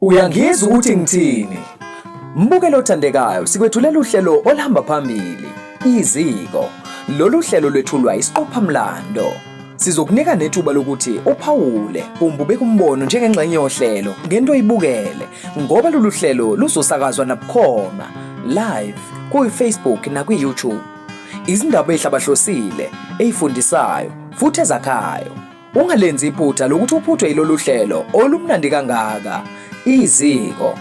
Uyangizwa ukuthi ngithini? Mbukelo othandekayo, sikwethulela uhlelo oluhamba phambili, iziko. Lolu hlelo lwethulwa isiqophamlando. Sizokunika nethuba lokuthi uphawule kumbe ubeke umbono njengengxenye yohlelo ngento oyibukele ngoba lolu hlelo luzosakazwa nabukhoma live kuyi-Facebook nakwi-YouTube. Izindaba ezihlabahlosile, ezifundisayo futhi ezakhayo. Ungalenzi iphutha lokuthi uphuthwe yilolu hlelo olumnandi kangaka. Iziko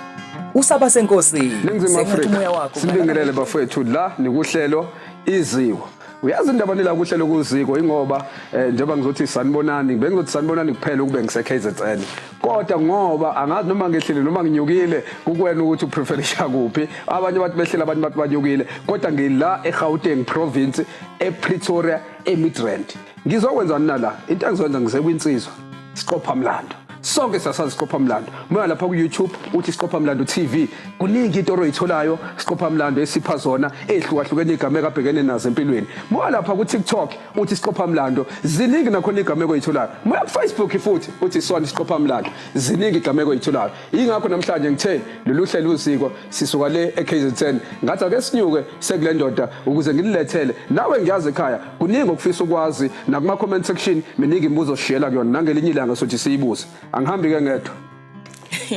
usaba senkosini Ningizimu Afrika sibingelele bafowethu la nikuhlelo iziko uyazi indaba nila kuhlelo kuziko ingoba eh, njengoba ngizothi sanibonani bengizothi sanibonani kuphela ukube ngise KZN kodwa ngoba angazi noma ngehlile noma nginyukile kukwena ukuthi upreferisha kuphi abanye bathi behlile abanye bathi banyukile kodwa ngila eGauteng province ePretoria eMidrand Ngizokwenza nina la into engizokwenza ngisekwinsizwa siqopha mlando sonke sasazi siqopha mlando moya lapha ku-youtube uthi siqopha mlando tv kuningi into oroyitholayo siqopha mlando esipha zona ey'hlukahlukene iy'gameko abhekene nazo empilweni moya lapha ku-tiktok uthi siqopha mlando ziningi nakhona iy'gameko oyitholayo moya kufacebook futhi uthi sona siqopha mlando ziningi iy'gameko oyitholayo yingakho namhlanje ngithe lolu hlelo uziko sisuka le e-kzn ngathi ake sinyuke sekule ndoda ukuze ngililethele nawe ngiyazi ekhaya Kuningi okufisa ukwazi nakuma comment section miningi imibuzo sishiyela kuyona nangelinye ilanga sothi siyibuze. Angihambi ke ngedwa.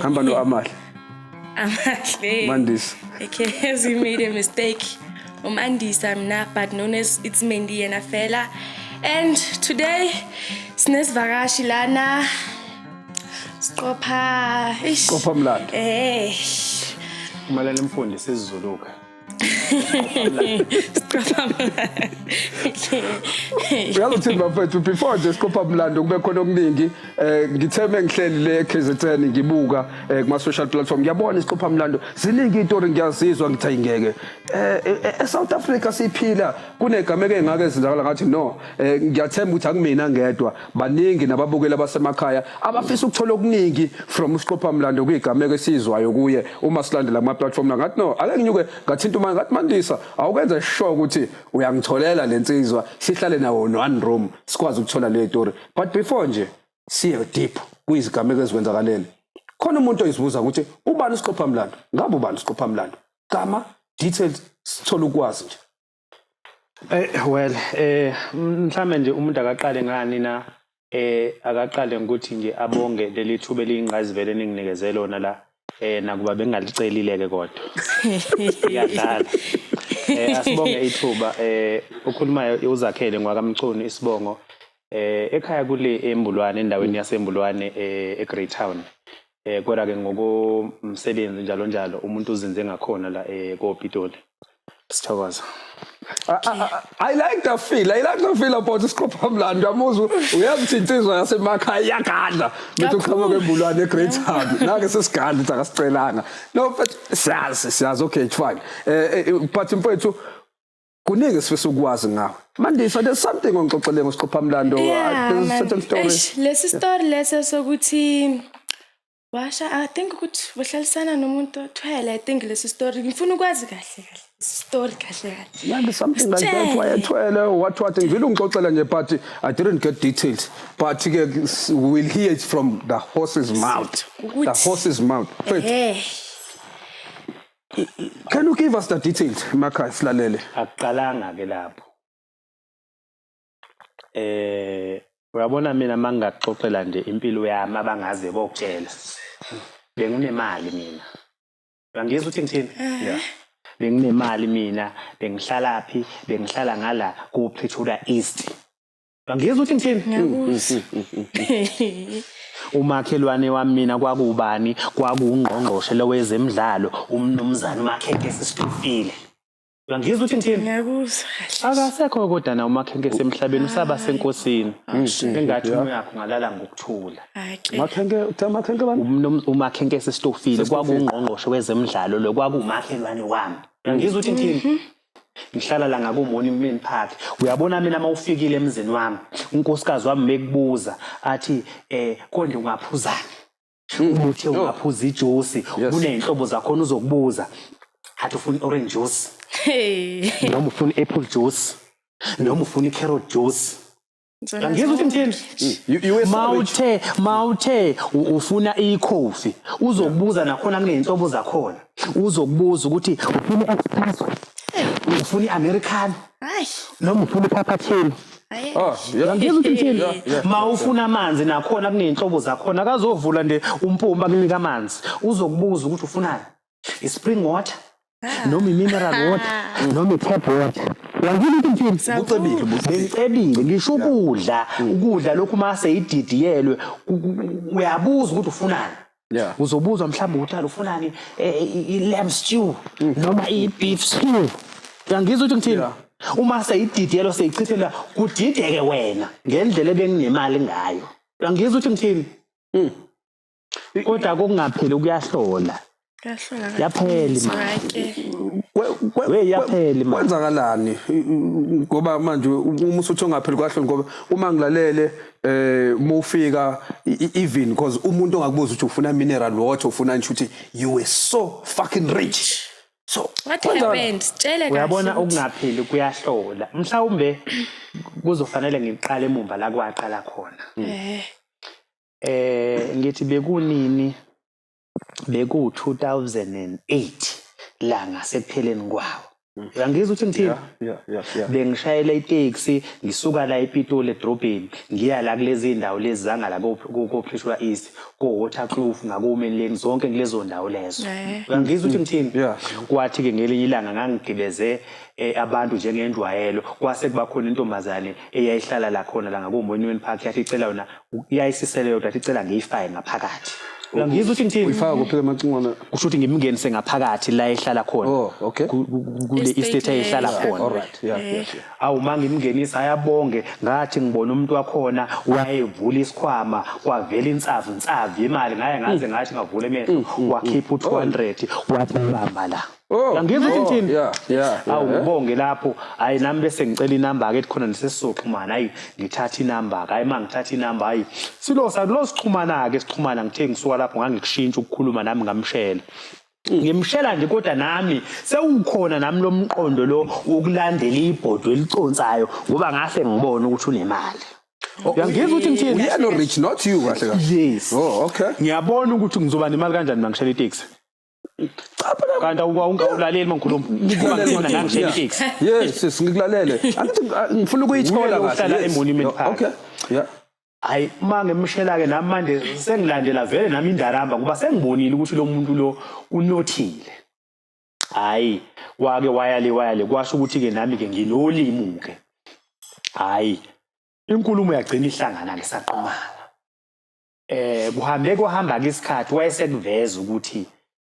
Hamba no Amahle. Amahle. Mandisa. Okay, has he made a mistake? Umandisa mina but known as it's Mendi yena fela. And today sinesivakashi lana siqopha ish. Qopha mlando. Eh. Kumele nimfundise isizuluka. uyazi ukuthi bafethu before nje siqopha mlando kube khona okuningi um ngithe mengihleli le ekzn ngibuka um kuma-social platform ngiyabona isiqopha mlando ziningi iy'tori ngiyazizwa ngithi ayingeke um esouth africa siphila kunegameko engake ezenzakala ngathi no um ngiyathemba ukuthi akumina ngedwa Baningi nababukeli abasemakhaya abafisa ukuthola okuningi from uSiqophamlando kuyigameko esiyizwayo kuye uma silandela kuma platform la ngathi no ake nginyuke ngathinta uma ngathi Mandisa awukwenza sure ukuthi uyangitholela lensizwa sihlale nawo one room sikwazi ukuthola le story but before nje siye deep kuyizigameko ezikwenzakaleni khona umuntu oyizibuza ukuthi ubani uSiqophamlando ngabe ubani uSiqophamlando gama details sithola ukwazi nje Eh well eh mhlambe nje umuntu akaqale ngani na eh akaqale ngokuthi nje abonge leli thuba eliyingqayizivele eninginikeze lona la eh nakuba bengalicelile ke kodwa iyadlala eh asibonge ithuba eh ukhulumayo uzakhele ngwakamchunu isibongo eh ekhaya kule embulwane endaweni yasembulwane eh eGreytown eh kodwa ke ngokomsebenzi njalo njalo umuntu uzinze ngakhona la eh koPitoli sithokoza I, I, I like the feel. I like the feel about isiqopha mlando yamuzwa uyakuthi insizwa yasemakhaya iyagadla bethi uqhamuka embulwane eGreat Hub. Nake sesigadla ukuthi akasicelanga. No but siyazi siyazi okay it's fine. Eh, eh but mfowethu kuningi esifisa ukwazi ngawe mandisa there's something ongixoxele ngosiqophamlando yeah, there's a certain story Eish, lesi story lesi sokuthi washa i think ukuthi wahlalisana nomuntu othwele i think lesi story ngifuna ukwazi kahle kahle story kahle kahle yeah there's something like that wayethwele what what ngivile ungixoxela nje but i didn't get details but ke we'll hear it from the horse's mouth the horse's mouth eh Can you give us the details emakhaya silalele? Akuqalanga ke lapho. Eh uyabona mina mangingaxoxela nje impilo yami abangaze bokutshela. Benginemali mina. Uyangizwa ukuthi ngithini? Eh. Yeah. Benginemali mina, bengihlala phi? Bengihlala ngala ku Pretoria East. Ngizwa uthi ngithini? Ngiyakuzwa. Umakhelwane wami mina kwakubani? Kwakuwungqongqoshe lowezemidlalo uMnumzane uMakhenkesi Stofile. Ngizwa uthi ngithini? Ngiyakuzwa kahle. Akasekho kodwa na uMakhenkesi emhlabeni usaba senkosini. Engathi umuyakho ngalala ngokuthula. Hayi ke. Makhenke, uthe makhenke bani? Umnum- umakhenkesi stofile kwakuwungqongqoshe wezemidlalo lo kwakuwumakhelwane wami ngizwa uthi ngithini ngihlala la ngakumoni mlini phakathi uyabona mina uma ufikile emzini wami unkosikazi wami mekubuza athi eh konje ungaphuzani ubuthe hmm. ungaphuza ijuice kuneyinhlobo zakhona uzokubuza athi ufuna orange juice noma ufuna apple juice noma ufuna i-carrot juice Angizwa ukuthi ngithini. You- you were sorry. mawuthe mawuthe u- ufuna ikhofi uzokubuza nakhona kuney'nhlobo zakhona uzokubuza ukuthi ufuna i-expresso ufuna i-americano Ay, noma ufuna iphaphathini ay. Ah, yeah. yangizwa ukuthi ngithini Yeah, yeah. ma ufuna amanzi nakhona kuney'nhlobo zakhona akazovula nje umpompi akunika amanzi uzokubuza ukuthi ufunani i-spring water ah. noma i-mineral water noma i-tap water wangile into impilo kucebile bengicebile ngisho ukudla ukudla lokhu uma seyididiyelwe uyabuza ukuthi ufunani yeah. uzobuzwa mhlawumbe ukuthi alufunani eh, i-lamb stew mm. noma i-beef stew uyangizwa ukuthi ngithini uma seyididiyelo seyichithela kudideke wena ngendlela ebenginemali ngayo uyangizwa ukuthi ngithini mm. kodwa kungapheli kuyahlola yapheli we yapheli manje kwenzakalani ngoba manje uma usuthi ongapheli kwahloni ngoba uma ngilalele eh uma ufika even because umuntu ongakubuza ukuthi ufuna mineral water ufuna nje ukuthi you were so fucking rich so what happened sitshele kahle uyabona ukungapheli kuyahlola mhlawumbe kuzofanele ngiqale emumva la kwaqala khona eh Eh ngithi bekunini beku 2008 la ngasekupheleni kwawo uyangizwa ukuthi ngithini bengishayela itaxi ngisuka la ePitoli edrobheni ngiya la kulezi ndawo lezi zanga la koPretoria East ko Waterkloof ngakoMini Lane zonke kulezo ndawo lezo eh. uyangizwa ukuthi ngithini kwathi ke ngelinye ilanga ngangigibeze eh, abantu njengendwayelo kwase kuba khona intombazane eyayihlala la khona la ngakoMonument Park yathi icela yona Uyayisisele yodwa athi cela ngiyifake ngaphakathi. Uyangizwa ukuthi ngithini? Uyifaka kuphi ke macingwane? Kusho ukuthi ngimngenise ngaphakathi la ehlala khona. Oh, okay. Ku- ku- ku- Kule Estate estate ayihlala leyo. khona. All right. Yeah, yeah, yeah. awu uma ngimngenisa ayabonge ngathi ngibona umuntu wakhona wayevula isikhwama kwavela insavu nsavu imali ngaye ngaze ngathi ngavula emehlo wakhipha u-200 wathi bamba la Oh, Yangizwa ukuthi oh, ngithini? yeah, yeah, yeah, awu yeah. ubonge lapho hayi nami bese ngicela inamba ke khona nesesizoxhumana hayi ngithatha inamba ke hayi ma ngithatha inamba hayi silo salo sixhumana ke sixhumana ngithe ngisuka lapho ngangikushintsha ukukhuluma nami ngamshela ngimshela nje kodwa nami sewukhona nami lo mqondo lo wokulandela ibhodwe eliconsayo ngoba ngase ngibona ukuthi unemali Oh, Uyangizwa ukuthi ngithini? Uyena rich not you kahle kahle. yes Oh, okay. ngiyabona ukuthi ngizoba nemali kanjani mangishela iteksi kanti awulaleli mangikhuluma ngikulalela ngangishela iteksi yes sis ngikulalele angithi ngifuna ukuyithola kahle emonument park okay yeah hayi uma ngimshela-ke nami manje sengilandela vele nami indaramba ngoba sengibonile ukuthi lo muntu lo unothile hhayi wake waya le waya le kwasho ukuthi-ke nami-ke nginolimu-ke hhayi inkulumo yagcina ihlangana-ke saqomana eh kuhambe kwahamba ke isikhathi wayesekuveza ukuthi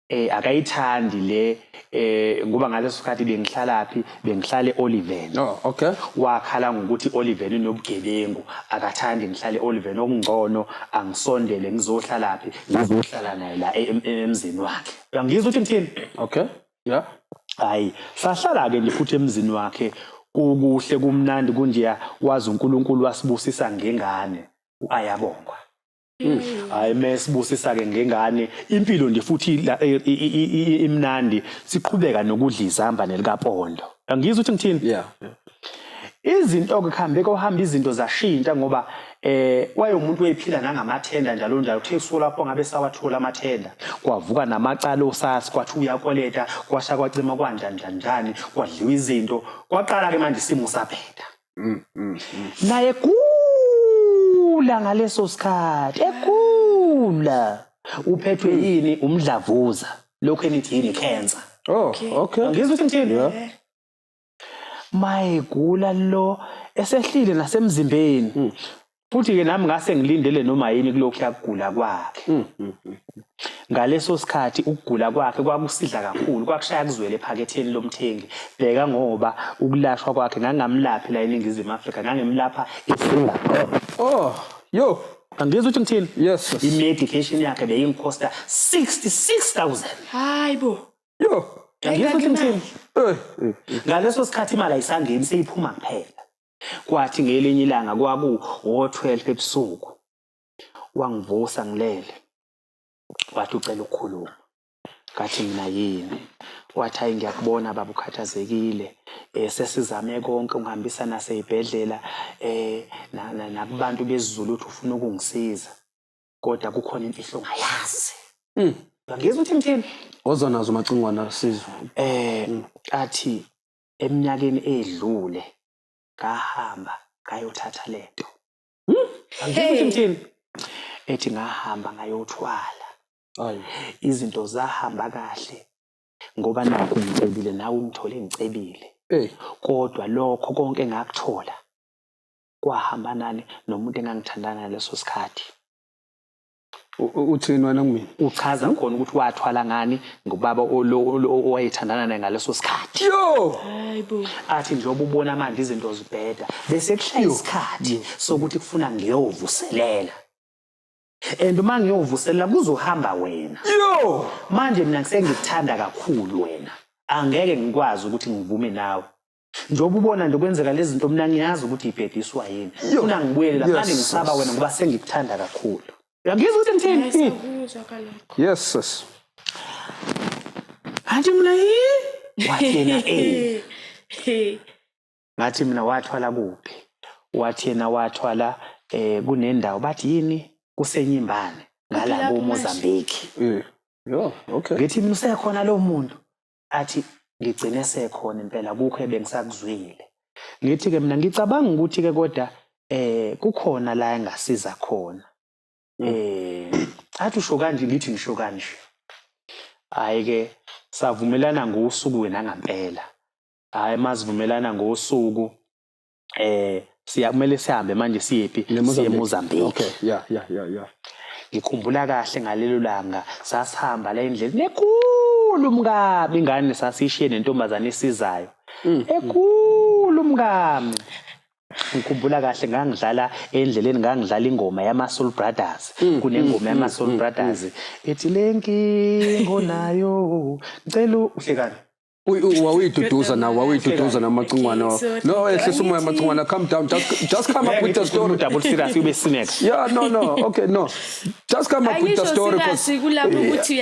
eh akayithandi le eh ngoba ngaleso sikhathi bengihlala phi bengihlale Oliven oh okay wakhala ngokuthi Oliven unobugebengu akathandi ngihlale Oliven okungcono angisondele ngizohlala phi ngizohlala naye la e, e, emzini wakhe uyangizwa ukuthi ngithini okay yeah hayi sahlala ke ngifuthi emzini wakhe kukuhle kumnandi kunjeya wazi uNkulunkulu wasibusisa ngengane uAyabongwa hayi mesibusisa ke ngengane impilo nje futhi imnandi siqhubeka nokudla izambane likapondo angizwa ukuthi ngithini yeah izinto ke kuhambe kohamba izinto zashintsha ngoba eh wayomuntu oyiphila nangamathenda njalo njalo kuthe usuku lapho ngabe sawathola amathenda kwavuka namacala osasi kwathi uyakweleta kwasha kwacima kwanjani njani njani kwadliwa izinto kwaqala ke manje isimo saphetha mm, mm, mm. naye gula ngaleso sikhathi egula uphethwe hmm. yini umdlavuza lokhu enithi yini cancer oh okay ngizwe ukuthi ngithini yeah. mayigula lo esehlile nasemzimbeni hmm. Futhi-ke nami ngase ngilindele noma yini kulokhu yakugula kwakhe. Mm, mm, mm. Ngaleso sikhathi ukugula kwakhe kwakusidla kakhulu, kwakushaya kuzwele ephaketheni lomthengi. Bheka ngoba ukulashwa kwakhe ngangamlaphi la eNingizimu Afrika, ngangimlapha eSingapore. Oh, yo. Angizwa ukuthi ngithini? Yes. I-medication yakhe beyingikhosta 66000. Hayi bo. Yo. Angizwa ukuthi ngithini? Eh, eh, eh. Ngaleso sikhathi imali ayisangeni seyiphuma kuphela. Kwathi ngelinye ilanga kwaku o-12 ebusuku wangivusa ngilele wathi ucela ukukhuluma ngathi mina yini wathi hayi ngiyakubona baba ukhathazekile eh sesizame konke ungihambisa naseyibhedlela eh nakubantu bezulu uthi ufuna ukungisiza kodwa kukhona imfihlo ongayazi mm. ngizwa uthi ngithini ozonazo umacingwana sizwe eh athi eminyakeni edlule ngahamba ngayothatha lento hey ethi ngahamba ngayothwala izinto zahamba kahle ngoba nakho ngicebile nawe ungithole ngicebile kodwa lokho konke ngakuthola kwahamba nani nomuntu engangithandana ngaleso sikhathi. uthini wena kumina uchaza hmm? khona ukuthi wathwala ngani ngubaba owayethandana naye ngaleso sikhathi yo athi njengoba ubona manje izinto zibheda bese kuhlaya isikhathi sokuthi kufuna ngiyovuselela and uma ngiyovuselela kuzohamba wena yo manje mina ngisengikuthanda kakhulu wena angeke ngikwazi ukuthi ngivume nawe njengoba ubona nje kwenzeka lezi zinto mina ngiyazi ukuthi ibhediswa yini funa ngibuyele la manje ngisaba wena ngoba sengikuthanda kakhulu uyangizwa ukuthi ngithini yes sis athi mina yi wathi yena eh ngathi mina wathwala kuphi wathi yena wathwala eh kunendawo bathi yini kusenyimbane ngala ko Mozambique mm. yo okay ngithi mina usekhona lo muntu athi ngigcine esekhona impela akukho ebengisakuzwile ngithi-ke mina ngicabanga ukuthi-ke kodwa eh kukhona la engasiza khona mm. eh athi usho kanje ngithi ngisho kanje hayi-ke savumelana ngosuku wena ngampela hhayi masivumelana ngosuku eh siya kumele sihambe manje siyephi siye Mozambique okay yeah yeah yeah yeah ngikhumbula kahle ngalelo langa sasihamba la endleleni nekhulu mkabi ingane sasishiye nentombazane esizayo mm. ekhulu mkami ngikhumbula kahle ngangidlala endleleni ngangidlala ingoma yama Soul Brothers mm, kunengoma mm, yama mm, Soul Brothers ethi lenkingo nayo ngicela uhlekani wawuyiduduza nawe wawuyiduduza namacingwane wakho no ehlisa umoya amacingwane come down just, just come up with the story double serious ube sineka yeah no no okay no just come up with the story because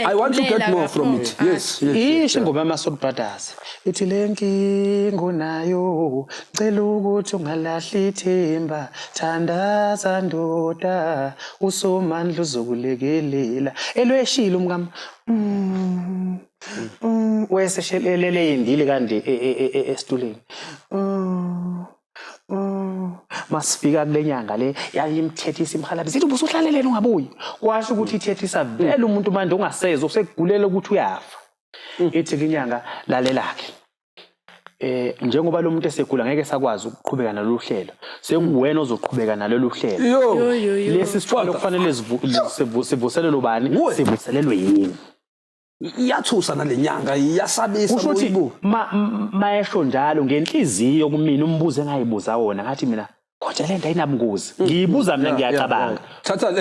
i want to get more from it yes yes isho ingoma yamasoul brothers ithi le nkinga unayo cela ukuthi ungalahli ithemba thandaza ndoda usomandla uzokulekelela elweshilo mkam mm. wayeseshelelele eyendile kanje e- e- e- e- esituleni Mm, mm. masifika kule nyanga le yayimthethisa imhalabisa ithi ubusuhlaleleni ungabuyi kwasho ukuthi ithethisa vele umuntu manje ongasezwa usekugulela ukuthi uyafa ithi ke inyanga lalelakhe eh njengoba lo muntu esegula ngeke sakwazi ukuqhubeka nalolu hlelo sekuwena ozoqhubeka nalolu hlelo Yo. lesi sithwalo kufanele sivu- sivu- sivuselelwe ubani sivuselelwe yini iyathusa nalenyanga iyasabisa kusho ukuthi mayesho njalo ngenhliziyo kumina umbuzo engayibuza wona ngathi mina kodwa lento ayinabungozi mm. ngiyibuza mina ngiyacabanga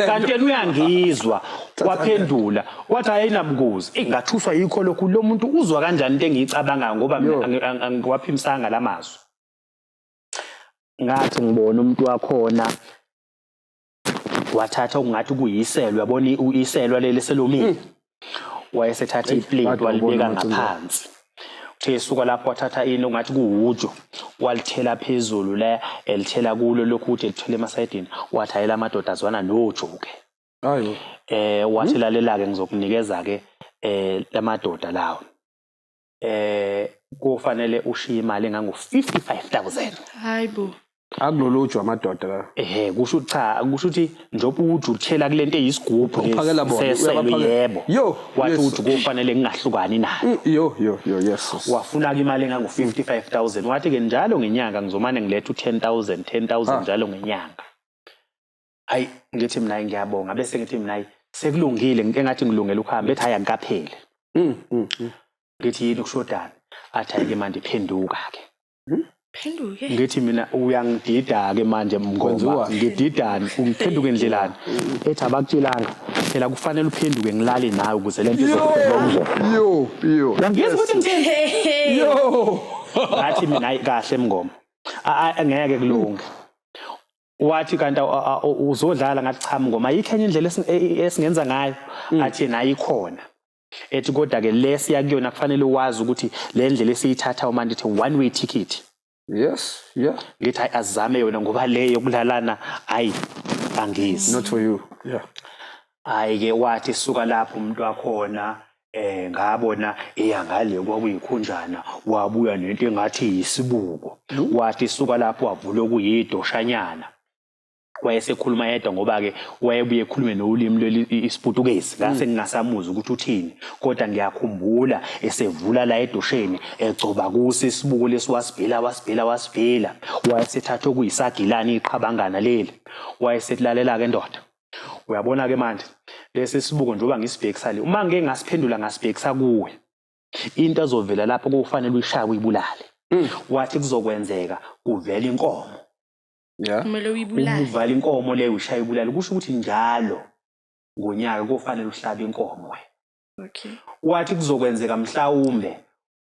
kanti yena uyangizwa waphendula wathi ayinabungozi ingathuswa yikho lokhu lo muntu uzwa kanjani into engiyicabangayo ngoba angiwaphimisanga la mazwi ngathi ngibona umuntu wakhona wathatha okungathi kuyiselwa yabona uyiselwa leli selomile hmm. wayesethatha iplate walibeka ngaphansi uthe esuka lapho wathatha ini ongathi kuwujo walithela phezulu la elithela kulo lokhu uthi elithela emasayidini wathi hayela amadoda azwana nojo-ke ayo eh wathi hmm? lalela-ke ngizokunikeza-ke eh lamadoda lawo eh kufanele ushiye imali engango 55000 hayibo akulolujwa amadoda la ehe kusho ukuthi cha kusho ukuthi njengoba uthi uthela kulento eyisigubhu Uphakela bona, seselo uyabaphakela. yebo Yo, wathi yes. uthi kufanele ngingahlukani nayo Mm, yo yo yo yesus wafuna-ke imali engango 55000 wathi-ke njalo ngenyanga ngizomane ngiletha u-10000 10000 Ah. njalo ngenyanga ayi ngithi mina ngiyabonga bese ngithi mina ayi sekulungile engathi ngilungele ukuhamba ethi hayi angikapheli mm, mm, mm. ngithi yini kushodani athi ayike manje phenduka ke hmm? phenduke ngithi mina uyangidida ke manje mngoma ngididani ungiphenduke endlelani ethi abakutshelanga phela kufanele uphenduke ngilale nawe ukuze lento izokuphela yo yo ngiyeza ukuthi ngithini yo ngathi mina kahle mngoma ngeke kulunge wathi kanti uzodlala ngathi cha mngoma ayikho enye indlela e, esingenza ngayo mm. athi yena ayikhona ethi kodwa ke lesiya kuyona kufanele wazi ukuthi le ndlela esiyithatha uma ndithi one way ticket yes yeah ngithi hayi azame yona ngoba le yokulalana hayi angizi not for you yeah hayi ke wathi suka lapho umuntu wakhona eh ngabona eya ngale kwakuyikhunjana wabuya nento engathi yisibuko wathi suka lapho wavula okuyidoshanyana wayesekhuluma yedwa ngoba-ke wayebuye ekhulume nolimi leli isiputukezi mm. ngase ngingasamuzi ukuthi uthini kodwa ngiyakhumbula esevula la edosheni egcoba kuso isibuko lesi wasibhela wasibhela wasibhela wayesethatha okuyisagilane iqhabangana leli wayesetilalela-ke ndoda Uyabona-ke manje lesi sibuko njengoba ngisibhekisa le, uma ngike ngasiphendula ngasibhekisa kuwe, into ezovela lapho kufanele uyishaye uyibulale. Mm. Wathi kuzokwenzeka kuvela inkomo. Yeah. Kumele uyibulale. Uvala inkomo leyo ushaye ibulale kusho ukuthi njalo ngonyaka kufanele uhlabe inkomo wena. okay wathi kuzokwenzeka mhlawumbe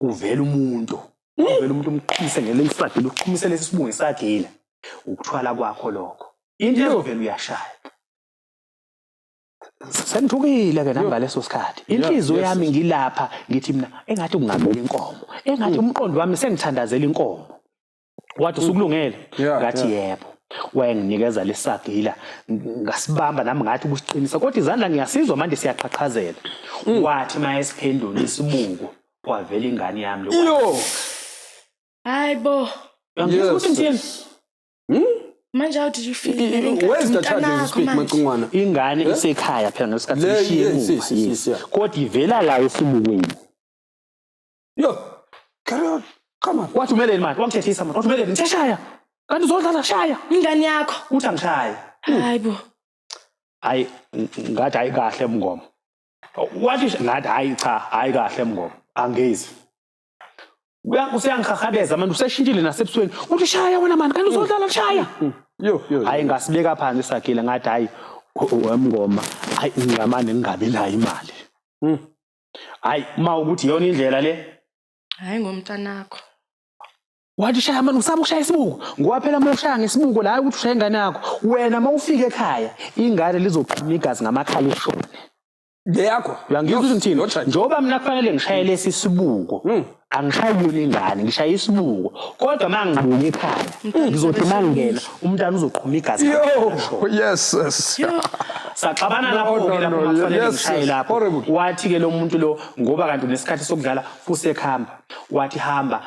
kuvela umuntu kuvela umuntu umqhumise ngelinye isagila uqhumise lesi sibungu isagila ukuthwala kwakho lokho into ezovela uyashaya sengithukile ke nangaleso sikhathi inhliziyo yami ngilapha ngithi mina engathi kungavela inkomo engathi mm. umqondo wami sengithandazela inkomo wathi usukulungele ngathi yebo wayenginikeza lesagila ngasibamba nami ngathi kusiqinisa kodwa izandla ngiyasizwa manje siyaqhaqhazela mm. wathi mayesiphendula isibuko kwavela ingane yami lokho hayi bo ngizwa ukuthi ngithini hmm? manje how did you feel where's the child as speak macungwana ingane eh? isekhaya phela ngesikhathi ishiye kodwa ivela la esibukweni Yo, carry on. Come on. Wathi umeleni manje? Wangithethisa manje. Wathi umeleni? Ngithe shaya. Kanti uzodlala shaya. Ingane yakho. Uthi angishaye. Hayi bo. Hayi ngathi hayi kahle mngoma. Wathi sh- ngathi hayi cha, hayi kahle mngoma. Angezi. Uya- Useyangihahadeza manje useshintshile nasebusweni. Uthi shaya wena mani, kanti uzodlala shaya. Yo, yo. Hayi ngasibeka phansi sagila ngathi hayi u- u- wemngoma. Hayi ngingamane ngingabi nayo imali. hayi ma ukuthi yona indlela le hayi ngomntanakho wathi ushaya manje usaba ukushaya isibuko ngoba phela uma ushaya ngesibuko la ukuthi ushaya ingane yakho wena uma ufika ekhaya ingane lizoqhuma igazi ngamakhala ishone leyakho uyangizwa ukuthi ngithini njengoba mina kufanele ngishayele sisibuko hmm. angishayi kuyona ingane ngishaye isibuko kodwa uma ngibuye ekhaya ngizothi uma ngingena umntana uzoqhuma igazi Yo, yes, yes. saxabana No, lapho-ke no, lapho no, makufanele yes, ngishaye yes. lapho Horrible. wathi-ke lo muntu lo ngoba kanti unesikhathi sokudlala usekuhamba wathi hamba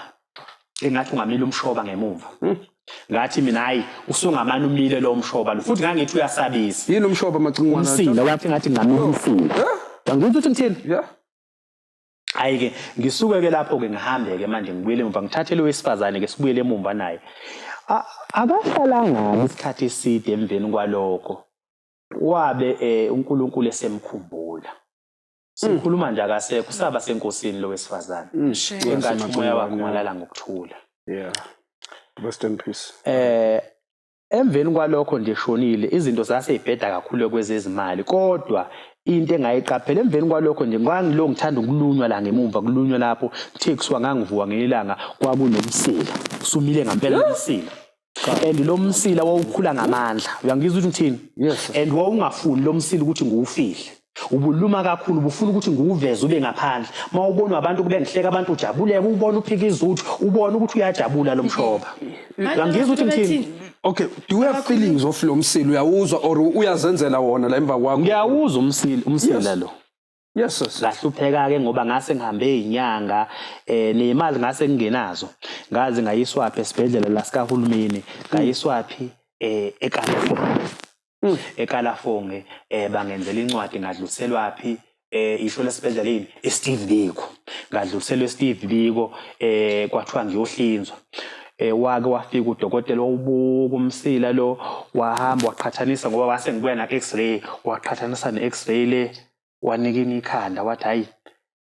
engathi ungamile umshoba ngemuva Hmm. ngathi mina hhayi usungamane umile lo mshoba lo futhi ngangithi uyasabisa Yini umshoba amacingwana? umsila wathi ngathi ngamile umsila Huh? angithi ukuthi ngithini Yeah. Ayike ngisuke ke lapho ke ngihambe ke manje ngibuyele emuva ngithathe lo wesifazane ke sibuyele emuva naye. Akahlalanga isikhathi eside emveni kwalokho wabe eh, uNkulunkulu esemkhumbula. Sikhuluma nje akasekho saba senkosini lo wesifazane. Mm. Engathi umoya wakhe ungalala ngokuthula. Yeah. Rest in peace. Eh Emveni kwalokho nje eshonile, izinto zase y'bheda kakhulu kwezezimali kodwa into engayiqaphela emveni kwalokho nje ngangilo ngithanda ukulunywa la ngemumva kulunywa lapho kuthe kusuka ngangivuka ngelanga kwakunomsila sumile ngampela umsila and lo msila wawukhula ngamandla uyangizwa ukuthi ngithini and wawungafuni lo msila ukuthi ngiwufihle Ubuluma kakhulu bufuna ukuthi nguveze ube ngaphandle. Mawubonwa abantu kube ngihleka abantu ujabuleke ubona uphika izuthu ubona ukuthi uyajabula lomshoba. Uyangizwa ukuthi ngithini? Okay, do you have feelings of lo msila uyawuzwa or uyazenzela wona la emva kwakho? Ngiyawuzwa umsila umsila lo. Yes sis. Ngahlupheka ke ngoba ngase ngihambe inyanga eh nemali ngase ngingenazo. Ngaze ngayiswaphi esibhedlela la sikahulumeni, ngayiswaphi eh eKalafoni. Mm. ekalafong um eh, bangenzela incwadi ngadluliselwaphi eh isho lesibhedlela yini iSteve Biko ngadluliselwa eSteve Biko eh kwathiwa ngiyohlinzwa eh wake wafika udokotela wawubuka umsila lo wahamba waqhathanisa ngoba wase ngibuya na x-ray waqhathanisa ne x-ray le wanikina ikhanda wathi hayi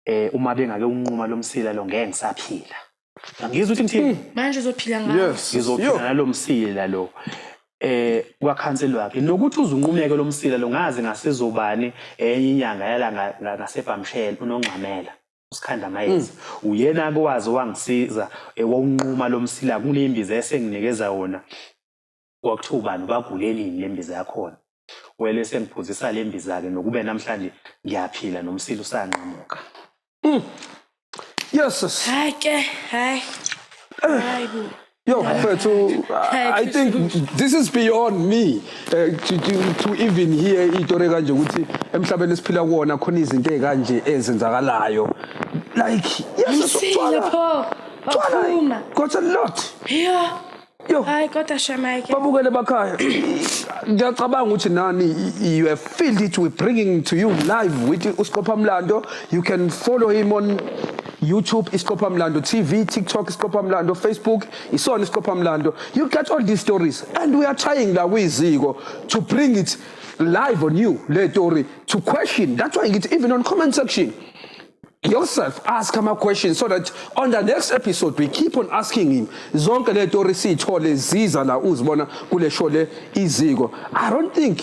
eh uma bengake unquma lo msila lo ngeke ngisaphila ngizwe ukuthi ngithini hmm. manje uzophila ngayo yes ngizophila nalo msila lo eh kwakhanseli wakhe nokuthi uzunqumeke lo msila lo ngazi ngasizobani enye inyanga yala ngasebhamshela unongxamela usikhanda mayeza hmm. uyena akwazi wangisiza ewonquma eh, lo msila kunembiza esenginikeza wona Kwakuthiwa ubani ubagulelini lembiza yakhona wele sengiphuzisa lembiza ke nokube namhlanje ngiyaphila nomsila usanqamuka. Mm. Yeses. Hayi ke, hayi. Eh. Hayi bo. Yo, mfethu, I think this is beyond me uh, to, to, to even hear itori kanje ukuthi emhlabeni esiphila kuwona khona izinto ezikanje ezenzakalayo. Like, yes, Msile pho. Waphuma. Got a lot. Yeah. Yo, Hayi kodwa Shamike. babukele bakhaya ngiyacabanga ukuthi nani you have feel it we bringing to you live with usiqopha mlando you can follow him on youtube isiqopha mlando tv tiktok isiqopha mlando facebook isona isiqopha mlando you get all these stories and we are trying la kuyiziko to bring it live on you le story to question that's why ngithi even on comment section yourself ask ama questions so that on the next episode we keep on asking him zonke le story sithole ziza la uzibona kule show le iziko i don't think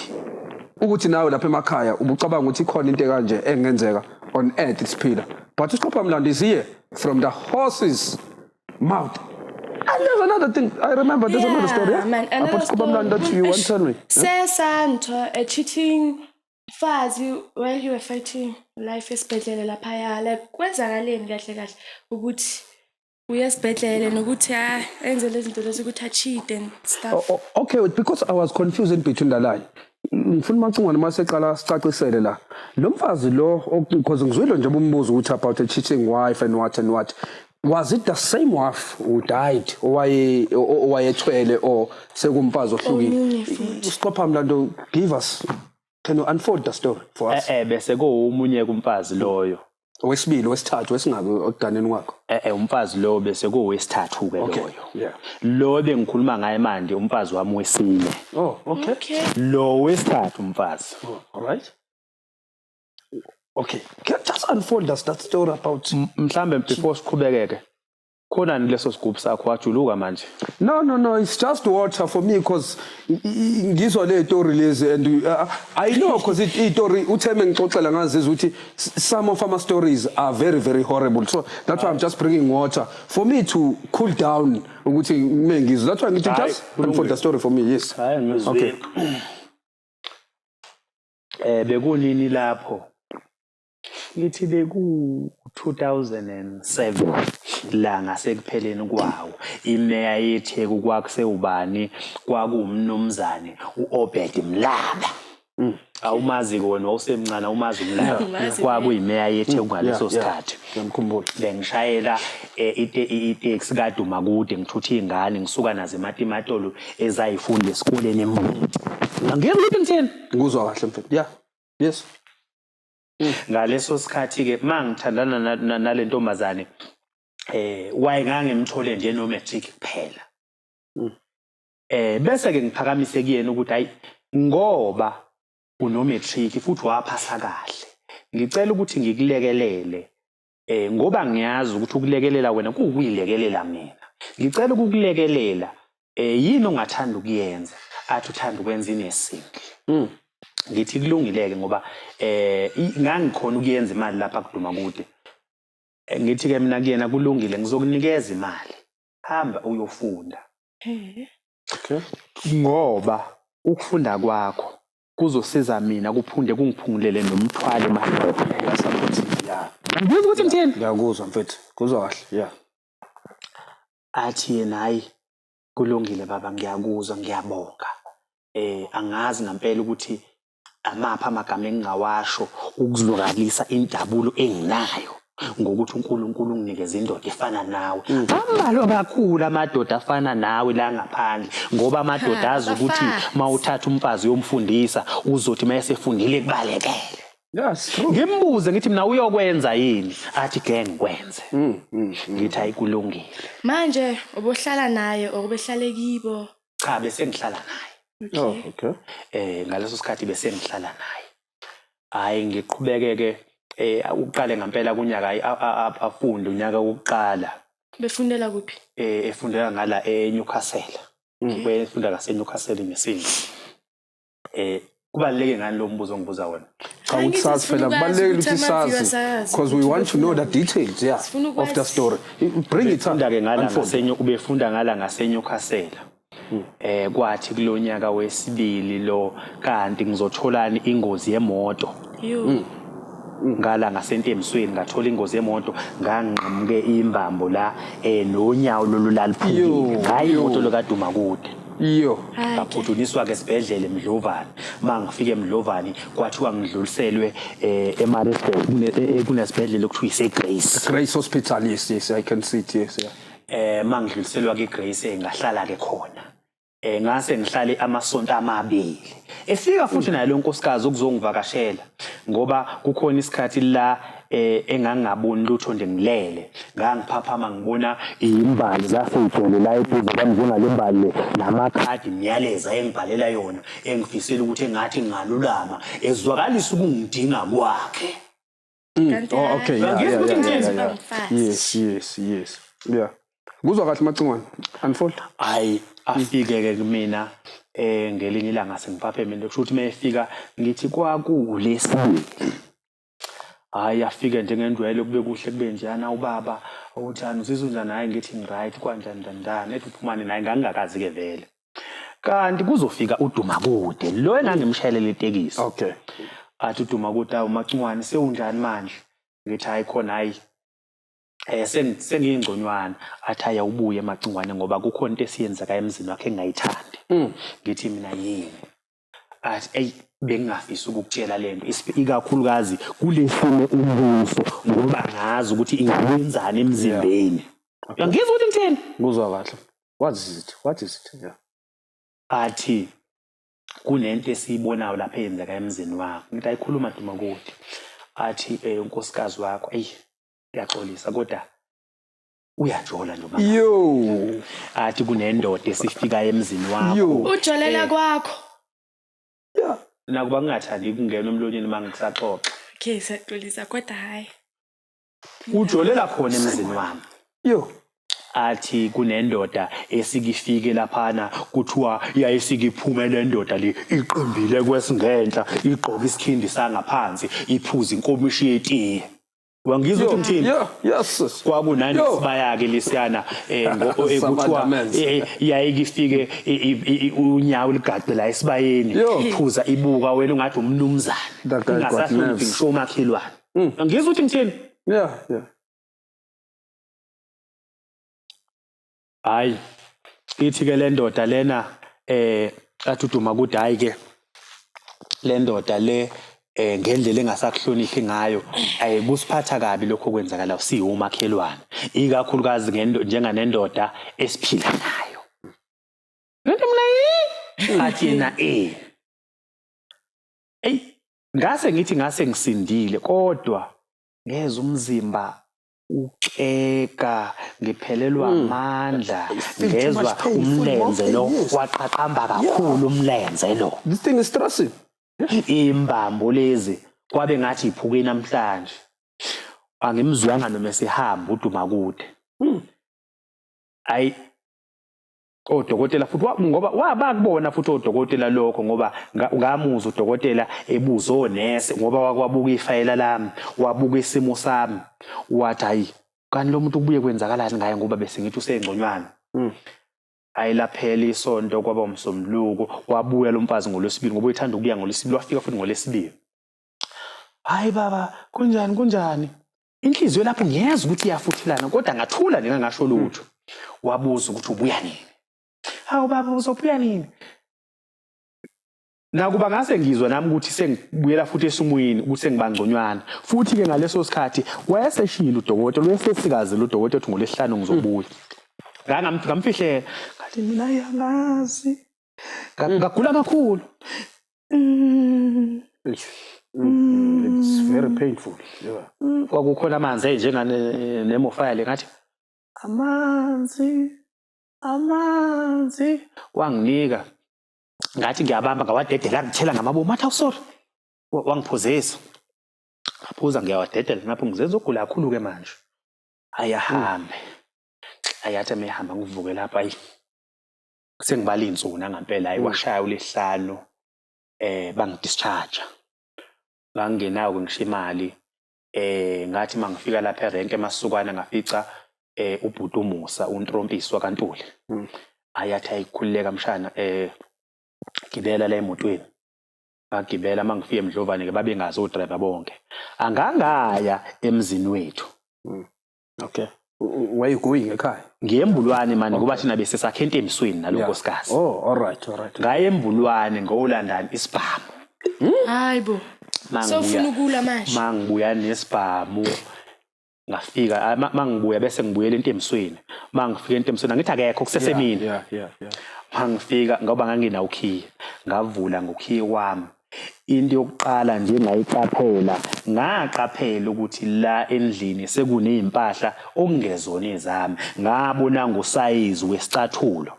ukuthi nawe lapha emakhaya ubucabanga ukuthi ikhona into kanje engenzeka on earth isiphila but usiqopha mlandi is here from the horses mouth And there's another thing. I remember there's yeah, another story. Yeah? Man, another About Kuba Mlanda, you want to tell me? Sesa, yeah? a cheating Mfazi while you were fighting life esibhedlela laphaya like kwenzakaleni kahle kahle ukuthi uye esibhedlela nokuthi ah, enze lezi zinto lezi ukuthi achide and stuff O- o- Oh, okay because i was confused in between la line ngifuna umacingwane uma seqala sicacisele la lo mfazi lo because ngizwile nje umbuzo ukuthi about a cheating wife and what and what was it the same wife who died owaye owayethwele or sekumfazi ohlukile siqopha mlando give us can you unfold the story for us eh, eh bese kuwumunye kumfazi loyo owesibili wesithathu wesingaki okuganeni kwakho eh, eh umfazi lowo bese kuwesithathu ke loyo yeah lo bengikhuluma ngaye manje umfazi wami wesine oh okay, okay. lo wesithathu umfazi oh, all right okay can just unfold us that story about mhlambe before siqhubekeke khona ni leso sigubhu sakho wajuluka manje no no no it's just water for me because ngizwa le story lezi and uh, uh, i know because it i story utheme ngixoxela ngazi ukuthi some of our stories are very very horrible so that's why i'm just bringing water for me to cool down ukuthi mina ngizwa that's why ngithi just unfold the story for me yes okay Eh bekunini lapho? Ngithi beku-2007 la ngasekupheleni kwawo. Imeya yeTheku kwakusewubani? KwakuwuMnumzane u-Obed Mlaba. Mm. Awumazi-ke wena wawusemncane awumazi uMlaba. Kwakuyimeya yeTheku ngaleso sikhathi. Ngiyamkhumbula. Bengishayela eh, iteksi kaduma kude ngithutha iy'ngane ngisuka nazo ematimatolo ezayifunda esikoleni eMbuti. Ngeke ukuthi ngithini? Ngikuzwa kahle mfethu. Yeah. Yes. Mm. Ngaleso sikhathi ke mangithandana nalentombazane eh wayengangimthole nje no matric kuphela. Mm. Eh bese ke ngiphakamise kuyena ukuthi hayi ngoba uno matric futhi waphasa kahle. Ngicela ukuthi ngikulekelele Eh ngoba ngiyazi ukuthi ukulekelela wena kuwukuyilekelela mina. Ngicela ukukulekelela eh yini ongathanda ukuyenza? Athi uthanda ukwenza inesinki. Mm. Ngithi kulungileke ngoba eh ngangikhona ukuyenza imali lapha kuduma kude. Eh, ngithi ke mina kuyena kulungile ngizokunikeza imali. Hamba uyofunda. Eh. Okay. Ngoba ukufunda kwakho kuzosiza mina kuphunde kungiphungulele nomthwalo madoda ngiyakuzwa ukuthi ngithini ngiyakuzwa mfethu kuzwa kahle ya athi yena hayi kulungile baba ngiyakuzwa ngiyabonga eh angazi ngempela ukuthi amaphi amagama engingawasho ukuzwakalisa injabulo enginayo ngokuthi uNkulunkulu unginikeza indoda efana nawe mm. ambalwa kakhulu amadoda afana nawe la ngaphandle ngoba amadoda azi ukuthi mawuthatha umfazi uyomfundisa uzothi mayesefundile kubalekele ngimbuze ngithi mina uyokwenza yini athi ke ngikwenze mm, mm, ngithi ayikulungile manje ubohlala naye okubehlale kibo cha bese ngihlala naye oh, okay eh ngaleso sikhathi bese ngihlala naye hhayi ngiqhubeke-ke um uqale ngampela kunyaka hhayi afunde unyaka wokuqala. Befundela kuphi? Um efundela ngala eNewcastle. Befunda ngaseNewcastle ngesinye. Um kubaluleke ngani lo mbuzo ongibuza wona cha ukuthi sazi phela kubalulekile ukuthi sazi because we want to know the details yeah of the story bring it up ke ngala ngasenyo ubefunda ngala ngasenyokasela eh kwathi kulonyaka wesibili lo kanti ngizotholani ingozi yemoto mm. ngala ngasentembisweni ngathola ingozi yemoto ngangqamuke imbambo la eh nonyawo lolulaliphukile hayi imoto lokaduma kude iyo ngaphuthuniswa ke sibhedlele Mdlovane mangifike Mdlovane kwathiwa ngidluliselwe eh eMaritzburg kunesibhedlela okuthiwa iseGrace Grace Hospital yes yes I can see it yes yeah eh mangidluliselwa ke Grace ngahlala ke khona eh ngase ngihlale amasonto amabili efika futhi naye lonkosikazi ukuzongivakashela ngoba kukhona isikhathi la eh engangaboni lutho nje ngilele ngangiphaphama ngibona imbali zaseyigcwele la eduze kwami njengalembali namakhadi imiyalezo engibhalela yona engifisela ukuthi engathi ngalulama ezwakalisa ukungidinga kwakhe Mm. Kanti Oh, hayi, okay, yeah, Ngeke yeah, ukuthi yeah, ngithenze yeah, yeah. umfazi. Yes, yes, yes. Yeah. Kuzwa kahle macingwane. Unfold. hayi afike-ke kumina um ngelinye ilanga sengiphaphemile kusho ukuthi uma efika ngithi kwakulesibili hhayi afike njengenjwayelo kube kuhle kube njeyana ubaba uthani uzizwa unjani hhayi ngithi ngiright kwanjani njani njani ethi uphumane naye ngangingakazi-ke vele kanti kuzofika uDumakude lo engangimshayelele itekisi okay athi uDumakude awu Macungwane sewunjani manje ngithi hayi khona hayi eh sengiyingconywana athi hayi awubuye Macungwane ngoba kukhona into esiyenzeka emzini wakhe engayithandi mm. ngithi mina yini athi eyi bengingafisi ukukutshela lento ikakhulukazi kulesimo umbuso ngoba ngazi ukuthi ingenzani emzimbeni ngizwa ukuthi ngithini kuzwa kahle what is it what is it yeah. athi kunento esiyibonayo lapha eyenzeka emzini wakho ngithi ayikhuluma duma kuthi athi eh, unkosikazi wakho eyi ngiyaxolisa kodwa uyajola nje umama yo athi kunendoda esifika emzini wakho yo ujolela Eh. kwakho nakuba kungathandi kungena umlonyeni uma ngisaxoxa okay siyaxolisa kodwa hhayi ujolela khona emzini wami yo athi kunendoda esikifike laphana kuthiwa yayisikiphume le ndoda le iqimbile kwesingenhla igqoke isikhindi sangaphansi iphuza inkomishi yetiye wangizwa ukuthi ngithini yes kwakunani sibayake lisiyana eh, eh kuthiwa eh, eh, yayike ifike unyawo ligaqe la esibayeni iphuza ibuka wena ungathi umnumzane ungasathi ngisho umakhelwane mm. ngizwa ukuthi ngithini yeah yeah hayi ithi ke lendoda lena eh athuduma ukuthi hayi ke lendoda le eh ngendlela engasakuhloniphi ngayo eh kusiphatha kabi lokho kwenzakala siwumakhelwane ikakhulukazi ngento njenganendoda esiphila nayo ngento mina yi athi yena eh ey ngase ngithi ngase ngisindile kodwa ngeza umzimba Uxega ngiphelelwa hmm. amandla ngezwa umlenze lo waqaqamba kakhulu umlenze lo. This thing is stressing. Imbambo lezi kwabe ngathi iphuke namhlanje. Angimzwanga noma sihamba uduma kude. Hmm. Ayi odokotela futhi ngoba wabakubona futhi odokotela lokho ngoba ngamuzwa udokotela ebuza onese ngoba wakwabuka ifayela lami wabuka isimo sami wathi hayi kanti lo muntu kubuye kwenzakalani ngaye ngoba bese ngithi usengconywana hmm. hayi laphela isonto kwaba umsombuluko wabuya lo mfazi ngolwesibili ngoba uyethanda ukuya ngolwesibili wafika futhi ngolwesibili hayi baba kunjani kunjani inhliziyo lapho ngiyeza ukuthi iyafuthelana kodwa ngathula nina ngasho lutho wabuza ukuthi ubuya nini hawu baba uzobuya nini nakuba ngase ngizwa nami ukuthi sengibuyela futhi esimweni ukuthi sengibangconywana futhi ke ngaleso sikhathi wayeseshilo udokotela wayesesikaze lo dokotela ukuthi ngolesihlanu ngizobuya ngamfihlela ngathi mina yangazi Nga- ngagula kakhulu Eish, mm, it's very painful yeah. kwakukhona amanzi eh, enjenganemofaya le ngathi amanzi amanzi wanginika ngathi ngiyabamba ngawadedela ngithela ngamabomu athi awusori wangiphuzisa ngaphuza ngiyawadedela ngapho ngizenza ugula kakhulu-ke manje ayahambe ayathi amehamba ngivuke lapho ayi sengibala iy'nsuku nangampela hayi kwashaya ulihlanu eh bangidischarge ngangingenawo ngisho imali eh ngathi mangifika lapha erenke emasukwana ngafica eh ubhuti umusa untrompisi wakantuli hmm. ayathi ayikhululeka mshana eh gibela la emotweni ngagibela mangifika emdlovane ke babengazi odriver bonke angangaya emzini wethu hmm. okay where you going ekhaya ngiye embulwane mani ngoba thina bese sakhe entembisweni nalo nkosikazi oh all right all right ngaye embulwane ngolandani isibhamu hayi bo sofuna ukula manje mangibuya nesibhamu ngafika mangibuya bese ngibuyela entembisweni mangifika entembisweni angithi akekho kusesemini yeah yeah yeah mangifika ngoba ngangina ukhiye ngavula ngokhiye wami Into yokuqala nje engayiqaphela, ngaqaphela ukuthi la endlini sekunezimpahla okungezona ezami. Ngabona ngosayizi wesicathulo.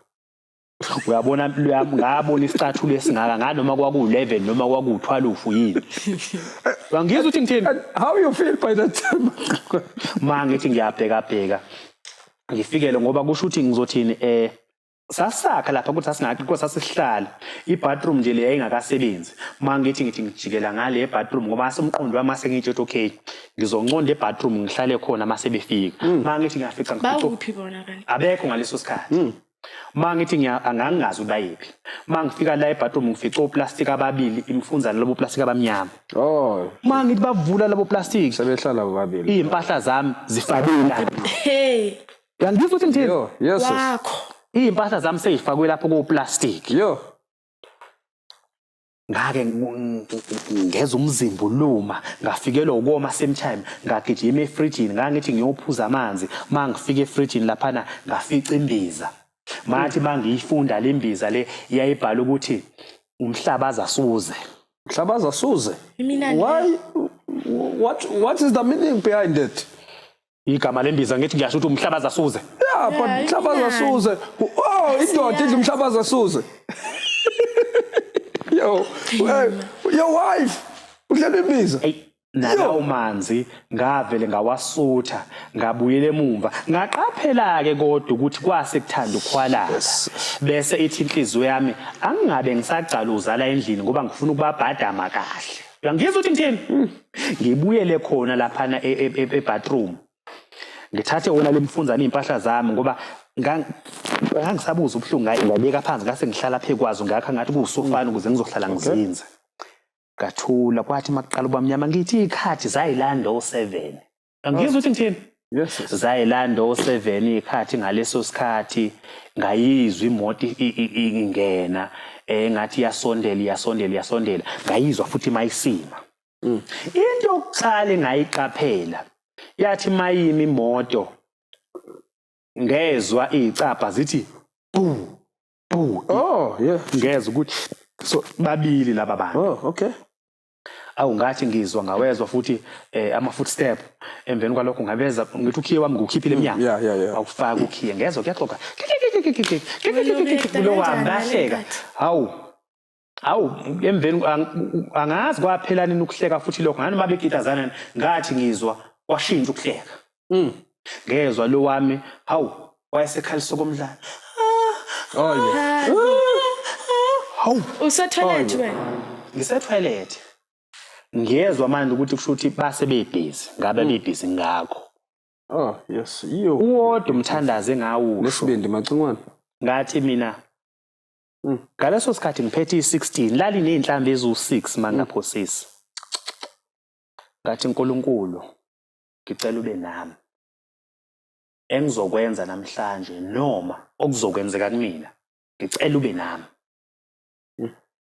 Uyabona mpilo yami ngabona isicathulo esingaka ngathi noma kwaku-11 noma kwaku-12 yini. Ngangizwa ukuthi ngithini? How you feel by that time? Mangithi ngiyabheka bheka. Ngifikele ngoba kusho ukuthi ngizothini eh sasakha lapha ukuthi sasingakhi kodwa sasihlala ibathroom nje le yayingakasebenzi uma ngithi ngithi ngijikela ngale ebathroom ngoba asomqondo wami ase ngitsho ukuthi okay ngizonconda ebathroom ngihlale khona uma sebefika hmm. uma ngithi ngiyafica ngiphi bona kanti abekho ngaleso sikhathi hmm. uma ngithi angangazi ukuthi bayephi uma ngifika la ebathroom ngifica oplastic ababili imfunza labo plastic abamnyama oh uma ngithi bavula labo plastic sebehlala bobabili impahla zami zifakile hey Yangizwa ukuthi ngithini? Yo, yes. sis. Wakho. Izimpahla zami seyifakwe lapho koplastic. Yo. Ngake ngu- ng- ng- ngeza umzimba uluma, ngafikelwa ukoma same time, ngagijima efrijini, ngangithi ngiyophuza amanzi, mangifika efrijini laphana ngafica imbiza. Mathi mangiyifunda le mbiza le yayibhala ukuthi umhlabaza suze. Mhlabaza suze. Iminani. Why what what is the meaning behind it? igama lembiza ngithi ngiyasho ukuthi umhlabaza suze yeah but Yeah, mhlabaza imnandi. suze oh indoda idla umhlabaza suze yo hey, your wife udlela imbiza eyi nalawo manzi ngavele ngawasutha ngabuyela emumva ngaqaphela-ke kodwa ukuthi kwase kuthanda ukukhwalala bese ithi inhliziyo yami angingabe ngisagcala uzala endlini ngoba ngifuna ukubabhadama kahle uyangizwa ukuthi ngithini ngibuyele khona laphana e, e, e, ebathroom ngithathe wona lemfunzana iy'mpahla zami ngoba ngangisabuza ubuhlungu ngaye ngabeka phansi ngase ngihlala phe kwazo ngakho ngathi kuwusofana ukuze ngizohlala ngizinze ngathula kwathi makuqala ubamnyama ngithi iy'khathi zayilanda o-seven angizwa ukuthi ngithini Yes. zayilanda o-seven ikhathi ngaleso sikhathi ngayizwa imoto i- i- i- ingena um ngathi iyasondela iyasondela iyasondela ngayizwa futhi mayisima into yokuqala engayiqaphela yathi mayimi imoto ngezwa iy'cabha zithi bu bu Oh, yeah. ngezwa ukuthi so babili laba bantu Oh, okay. awu ngathi ngizwa ngawezwa futhi eh, ama foot step emveni kwalokho ngabeza ngithi ukhiye wami ngukhiphile emnyango yeah, yeah, yeah. awufaka ukhiye ngezwa kuyaxoka kulo wami ngahleka hawu hawu emveni angazi kwaphela nini ukuhleka futhi lokho nganoma bekitazana ngathi ngizwa kwashintsha ukuhleka Mm. Ngezwa lo wami, hawu, wayesekhalisa okomdlalo. Olwe. Hawu. Usetoilet Olwe. wena. Ngisetoilet. Ngiyezwa manje ukuthi kusho ukuthi base bebhizi, ngabe bebhizi ngakho. Oh, yes. Iyo. Uwodwa umthandazi engawusho. Lesibindi macingwane. Ngathi mina Mm. ngaleso sikhathi ngiphethe i-16 lali nezinhlambi eziwu-6 mangaphosisi ngathi nkulunkulu ngicela ube nami. Engizokwenza namhlanje noma okuzokwenzeka kumina ngicela ube nami.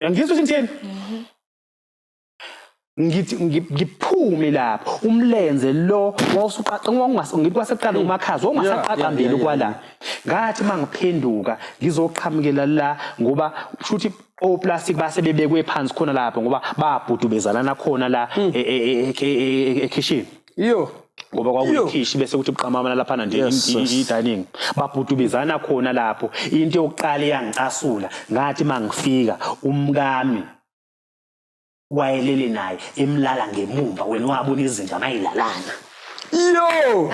Uyangizwa ukuthi ngithini? Mhm. ngithi ngiphume lapho umlenze lo wawusuqaqa ngikwasekuqala umakhazi ongasaqaqambeli kwala ngathi mangiphenduka ngizoqhamukela la ngoba kushuthi oplastic base bebekwe phansi khona lapho ngoba babhudu bezalana khona la hmm. e, e, e, ekitchen iyo ngoba kwakuyikhishi bese kuthi buqamama laphana nje i-dining babhudu bezalana khona lapho into yokuqala eyangicasula ngathi mangifika umkami wayelele naye emlala ngemumva wena wabona izinja mayilalana yo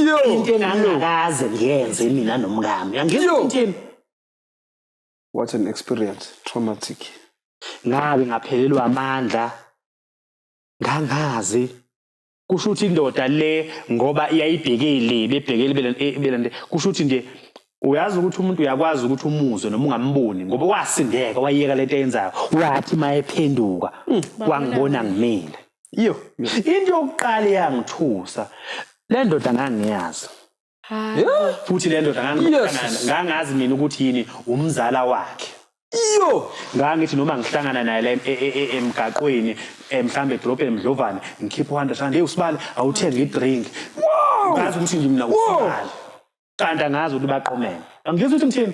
yo into engangakaze ngiyenze mina nomkami angizintini What an experience, traumatic. Ngabe ngaphelelwa amandla ngangazi kusho ukuthi indoda le ngoba iyayibhekele bebhekele belande eh, kusho ukuthi nje uyazi ukuthi umuntu uyakwazi ukuthi umuzwe noma ungamboni ngoba wasindeka wayeka lento eyenzayo wathi mayephenduka hmm, wangibona ngimile iyo into yokuqala eyangithusa le ndoda ngangiyazi futhi le ndoda ngangikanana ngangazi mina ukuthi yini umzala wakhe iyo ngangithi noma ngihlangana naye la em- e- e- e- emgaqweni eh, mhlawumbe edolobheni mdlovane ngikhiphe u-hundred rand eyi usibali awuthenge idrink ngazi ukuthi nje mina usibali kanti angazi ukuthi baqomene angizwa ukuthi ngithini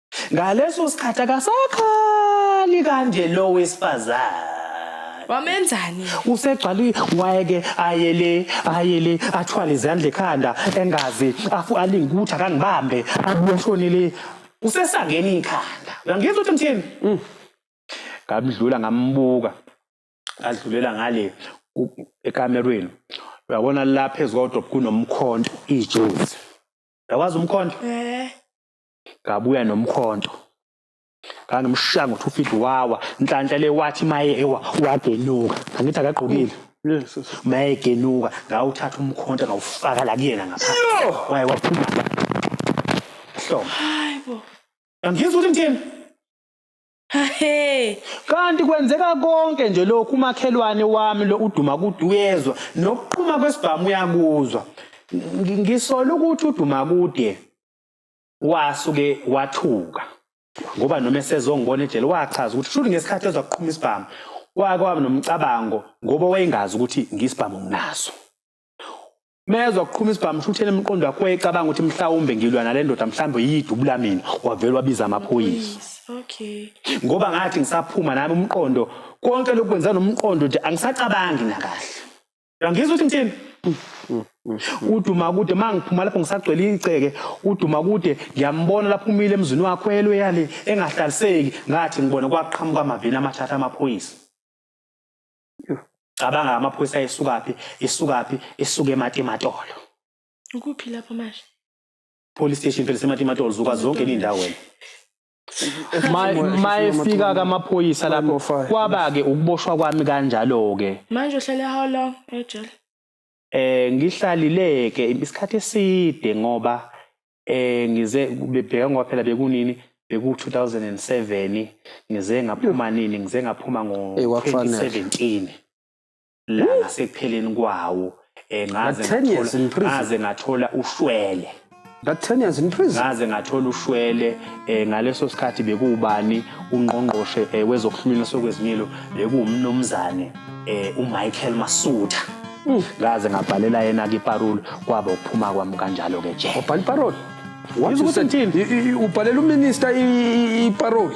Ngaleso sikhathi akasakhali kanje lo wesifazane. Wamenzani? Usegcwali wayeke ayele ayele athwale izandla ekhanda engazi afu alingutha kangibambe abushonele usesangeni ikhanda. Uyangizwa ukuthi mthini? Mm. Ngamdlula ngambuka. Adlulela ngale ekamerweni. Uyabona lapha ezodwa kunomkhonto ijuzi. Uyakwazi umkhonto? Eh. ngabuya nomkhonto ngangimushaya ngo-two feet wawa nhlanhla le wathi maye ewa wagenuka angithi akagqokile maye egenuka ngawuthatha umkhonto ngawufaka la kuyena ngapha waye waphuma hloma angizwa ukuthi ngithini Hey. Kanti kwenzeka konke nje lokhu umakhelwane wami lo uduma kude uyezwa nokuqhuma kwesibhamu uyakuzwa. Ngisola ukuthi uduma kude Wasuke wathuka ngoba noma esezongibona ejele wachaza ukuthi shuthi ngesikhathi ezwa kuqhuma isibhamu wake waba nomcabango ngoba wayengazi ukuthi ngisibhamu nginaso mezwa kuqhuma isibhamu shuthi enemqondo wakhe wayecabanga ukuthi mhlawumbe ngilwa nale ndoda mhlawumbe yidubula mina wavele wabiza amaphoyisa okay ngoba ngathi ngisaphuma nami umqondo konke lokwenza nomqondo nje angisacabangi nakahle uyangizwa ukuthi ngithini uduma kude uma ngiphuma lapho ngisagcwele igceke uduma kude ngiyambona lapho umile emzini wakho elwe yale engahlaliseki ngathi ngibona kwaqhamuka amaveni amathatha amaphoyisa cabanga amaphoyisa ayesukaphi isukaphi isuke ematimatolo ukuphi lapho manje police station phela sematimatolo zuka zonke izindawo wena mayefika kamaphoyisa lapho kwaba-ke ukuboshwa kwami kanjalo-ke manje uhlale how long ejele eh ngihlalileke isikhathi eside ngoba eh ngize bebheka ngoba phela bekunini beku 2007 ngize ngaphuma nini ngize ngaphuma ngo 2017 la ngasekupheleni kwawo eh, ngaze But 10 years in ngathola- prison. ngaze ngathola ushwele That 10 years in prison. ngaze ngathola ushwele eh, ngaleso sikhathi bekuwubani ungqongqoshe eh, wezokuhlunyelwa sokwezimilo bekuwumnumzane eh, umichael masutha Mm. ngaze ngabhalela yena-ke iparule kwaba ukuphuma kwami kanjalo-ke jele Bhali parole. What Yizwa you ukuthi said. ngithini? I- i- i- Ubhalela uminister i- i- i parole.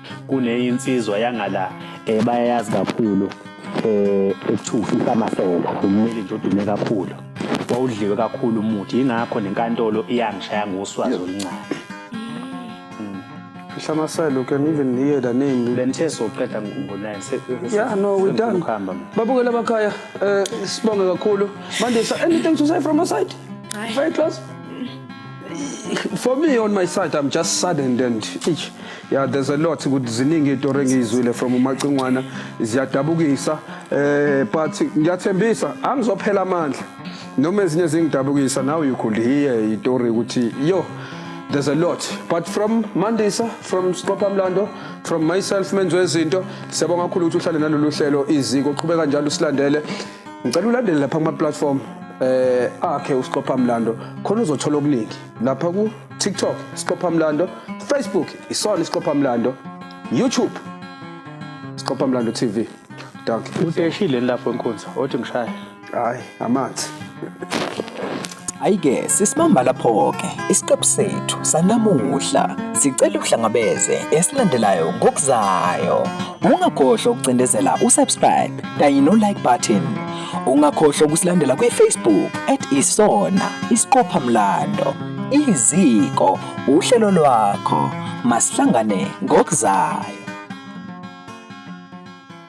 kunenye insizwa yangala um bayayazi kakhulu um ekuthiwa ufifa amasela umeli nje odume kakhulu wawudliwe kakhulu umuthi yingakho nenkantolo iyangishaya ngoswazi oluncane Hlamasela, you can even hear the name. Bengithe soqeda ngikhumbulayo. Yeah, no, we done. Babukela abakhaya, eh sibonge kakhulu. Mandisa, anything to say from your side? Very close. for me on my side i'm just saddened and eish, yeah there's a lot ukuthi ziningi itori engiyizwile from umacingwana ziyadabukisa eh but ngiyathembisa angizophela amandla noma ezinye zingidabukisa now you could hear itori ukuthi yo there's a lot but from mandisa from sqopha mlando from myself menziwe izinto siyabonga kakhulu ukuthi uhlale nalolu hlelo iziko qhubeka njalo usilandele ngicela ulandele lapha kuma platform eh akhe uSiqopha Mlando khona uzothola okuningi lapha ku TikTok Siqopha Mlando Facebook isona Siqopha Mlando YouTube Siqopha Mlando TV danke udeshile lapho enkunzi othi ngishaya hayi amanzi Ayike sisibamba lapho-ke isiqephu sethu sanamuhla sicela uhlangabeze esilandelayo ngokuzayo ungakhohlwa ukucindezela usubscribe kanye no-like button ungakhohlwa ukusilandela kwi-facebook at isona isiqopha mlando iziko uhlelo lwakho masihlangane ngokuzayo